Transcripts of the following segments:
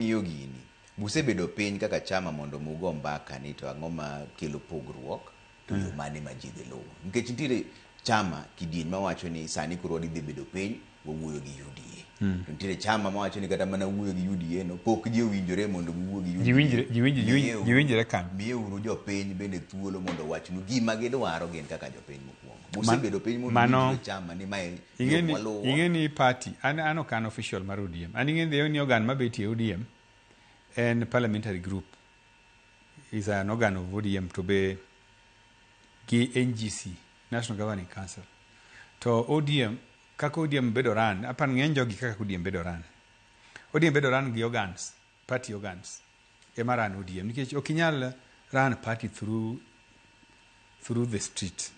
King'iyo gini, be usebedo piny kaka chama mondo mi ugo mbaka ni to ang'o ma kelo pogruok to yo mane ma ji dhi luwo? Nikech nitiere chama kidieny ma wacho ni sani koro wadhi bedo piny wawuoyo gi UDA. To nitiere chama ma wacho ni kata mana wuoyo gi UDA no pok ji owinjore mondo giwuo gi UDA. Ji winjre, ji winjre, ji winjre, ji winjre kan. Miye uru jopiny bende thuolo mondo owachnu gima gidwaro gin kaka jopiny mokuongo. Usebedo piny mondo mano, uwinjre chama ni mae Ing'e ni- Jokwaluwo. ing'e ni party an an ok an official mar odm an ing'e ni ni organ mabetie odm en parliamentary group is an organ of odm to be gi ngc national governing council to odm kaka odm bedo ran apan ng'eny jogi kaka odm bedo ran odm bedo ran gi organs party organs ema run ODM nikech ok inyal run party through through the street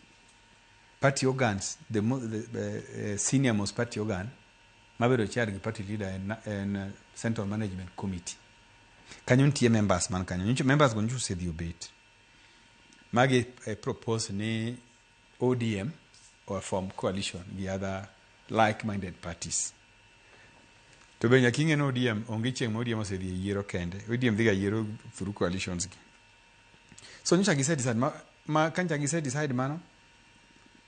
party organs the, mo, the, the uh, senior most party organ mabedo chair gi party leader en, en uh, central management committee kanyo nitie members man kanyo nyicho members go nyicho osedhi obet magi eh, propose ni ODM or form coalition gi other like minded parties. To be nyaka ing'e ni ODM onge chieng' ma ODM osedhi e yiero kende. ODM dhiga yiero through coalitions gi. So nyocha gise decide ma, ma kanyocha gise decide mano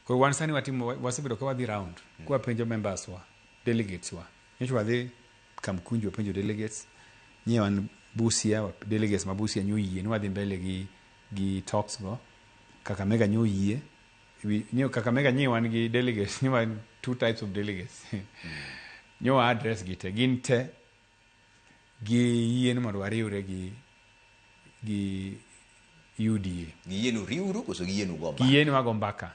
koro wan sani watimo wasebedo ka wadhi round mm. kwa penjo members wa delegates wa nyocha wadhi Kamkunji wapenjo delegates nyewan Busia delegates ma Busia nyoyie ni wadhi mbele gi gi talks go Kakamega nyo oyie nyo Kakamega nyi wan gi delegates nyo wan two types of delegates nyo wa address gi te gin te gi yie ni mondo wariwre gi gi UDA Giyienu riuru koso giyienu go mbaka? giyie ni wago mbaka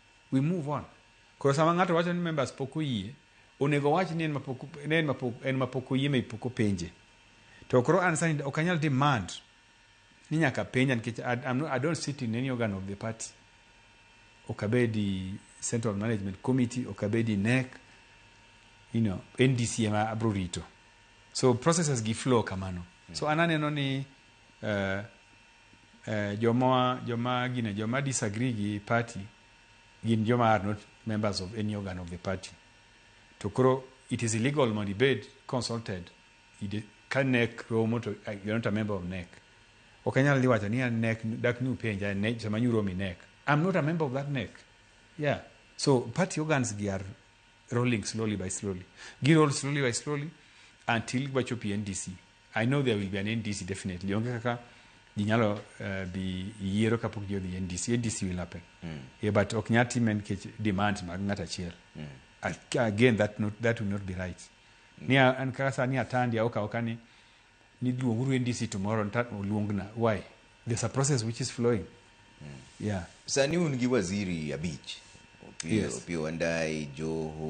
We move on. Koro sama ng'ato wacho ni members pok oyie, onego owach ni en mapok ne en mapok en mapok oyie maybe pok openje. To koro an sani ok anyal demand ni nyaka penja nikech I, I'm not, I don't sit in any organ of the party. Ok abedi Central Management Committee, ok abedi NEC, you know, NDC ema abro rito. So processes gi flow kamano. So an aneno ni uh, eh, joma joma gine joma disagree gi party gin joma are not members of any organ of the party to koro it is illegal mondo ibed consulted ide- ka nek romo to uh, you're not a member of nek ok anyal dhi wacho ni an nek dak ni upenja nek sama nyuromo i nek i'm not a member of that nek yeah so party organs gi are rolling slowly by slowly gi roll slowly by slowly until wachopi ndc I know there will be an NDC definitely. Onge kaka ji nyalo eh, dhi yiero kapok ji odhi NDC. NDC will happen. Yeah, but ok nyal time nikech demands mag ng'at achiel. Ak- Again, that, not, that will not be right. Ni a- an kaka sani atandi aoka aoka ni ni luonguru NDC tomorrow nta oluongna. Why? There's a process which is flowing. Yeah. sani un gi waziri abich Opiyo- Yes. Opiyo Wandayi, Joho,